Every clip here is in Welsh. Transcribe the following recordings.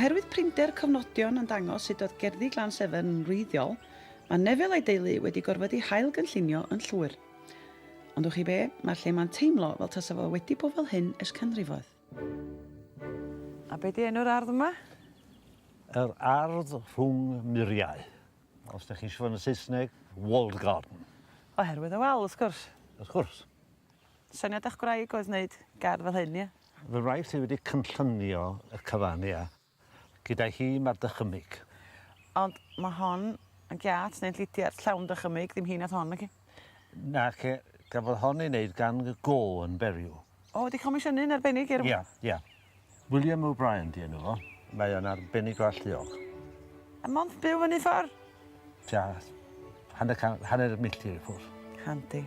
Oherwydd prinder cofnodion yn dangos sut oedd gerddi Glan Severn yn wreiddiol, mae Neville a'i deulu wedi gorfod ei hail gynllunio yn llwyr. Ond wch chi be, mae'r lle ma'n teimlo fel tasa fo wedi bod fel hyn ers canrifoedd. A be di enw'r ardd yma? Yr ardd rhwng muriau. Os da chi eisiau fod yn Saesneg, walled garden. Oherwydd y wal, wrth gwrs. Wrth gwrs. Syniad eich gwraig oedd wneud gardd fel hyn, ie? Fy wraig sydd wedi cynllunio y cyfan, ie. Gyda'i hi mae'r dychymyg. Ond mae hon yn giât neu'n llidiart, llawn dychymyg, ddim hi nath hon, naci? Naci, cafodd hon ei wneud gan Go yn Beriw. O, wedi comisiynu'n arbennig i'r... Ia, ia. William O'Brien 'di enw fo. Mae o'n arbennig o alluog. A mond byw fyny ffor? Tua hanner can- hanner milltir i ffwrdd. Handi.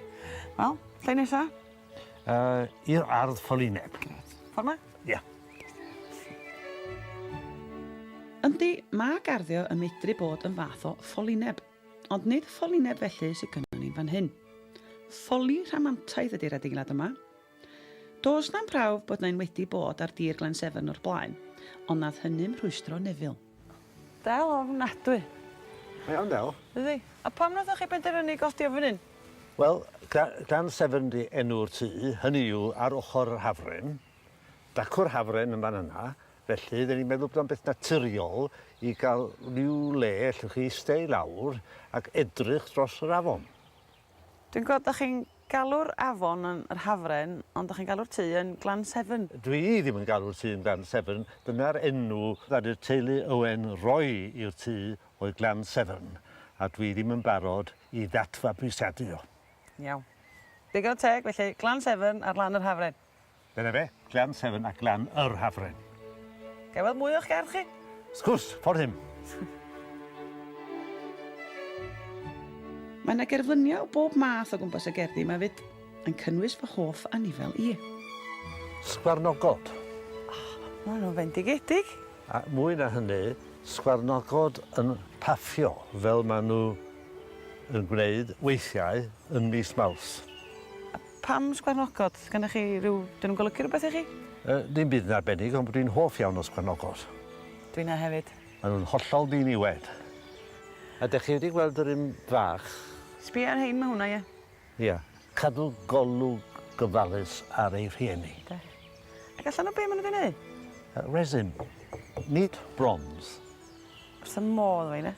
Wel, lle nesa? Yy i'r ardd ffyl i neb. Grêt. Ffor 'ma? Ia. Yndi, mae garddio yn medru bod yn fath o ffolineb, ond nid ffolineb felly sydd gynnon ni'n fan hyn. Ffoli rhamantaidd ydi'r adeilad yma. Does na'm prawf bod nain wedi bod ar dir Glen Severn o'r blaen, ond nath hynny'm rhwystro Neville. Del ofnadwy. Mae o'n del. Ydi. A pam nathoch chi benderfynu godi o fan 'yn? Wel, Gran Gran Severn 'di enw'r tŷ, hynny yw, ar ochr yr Hafren. Dacw'r Hafren yn fan yna, felly 'dyn ni'n meddwl bod o'n beth naturiol i ga'l ryw le lle chi iste i lawr ac edrych dros yr afon. Dwi'n gweld dach chi'n galw'r afon yn yr Hafren, ond dach chi'n galw'r tŷ yn Glan Severn. Dwi ddim yn galw'r tŷ yn Glan Severn, dyna'r enw ddaru'r teulu Owen roi i'r tŷ oedd Glan Severn, a dwi ddim yn barod i ddatfabwysiadu o. Iawn. Digon teg, felly Glan Severn ar lan yr Hafren. Dyna fe, Glan Severn a Glan yr Hafren. Ga i weld mwy o'ch gardd chi? Wrth gwrs, ffordd hyn. Mae yna gerfluniau o bob math o gwmpas y gerddi yma fyd, yn cynnwys fy hoff anifel i. Sgwarnogod. Oh, mae nhw'n fendigedig. A mwy na hynny, sgwarnogod yn paffio fel maen nhw yn gwneud weithiau yn mis Mawrth. Pam sgwarnogod? Sgennoch chi ryw... 'Dyn nhw'n golygu rhywbeth i chi? Yy dim byd yn arbennig ond dwi'n hoff iawn o sgwarnogod. Dwi 'na hefyd. Ma' nhw'n hollol ddiniwed. A 'dych chi wedi gweld yr un fach? Sbia ar rhein, ma' hwnna, ie. Ia. Cadw golwg gofalus ar eu rhieni. Da. Ac allan o be' ma' nhw 'di neu'? Yy resin. Nid bronze. Do's 'am modd efo 'i na?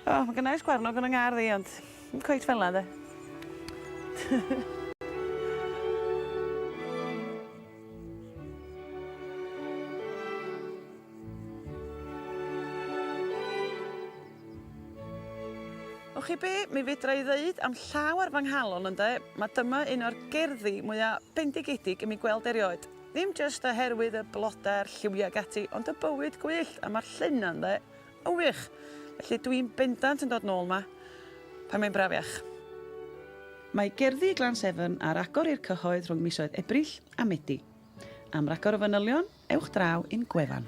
O, ma' gynnai sgwarnog yn 'y ngardd i ond dim cweit fel 'na 'de? O' chi be', mi fedra i ddeud am llaw ar fy nghalon ynde, ma' dyma un o'r gerddi mwya bendigedig i mi gweld erioed. Ddim jyst oherwydd y blodau a'r lliwiau ac ati, ond y bywyd gwyllt, a mae'r llyn 'na ynddo, yn wych! Felly dw i'n bendant yn dod nôl 'ma pan mae'n braf iach. Mae gerddi Glan Severn ar agor i'r cyhoedd rhwng misoedd Ebrill a Medi. Am ragor o fanylion, ewch draw i'n gwefan.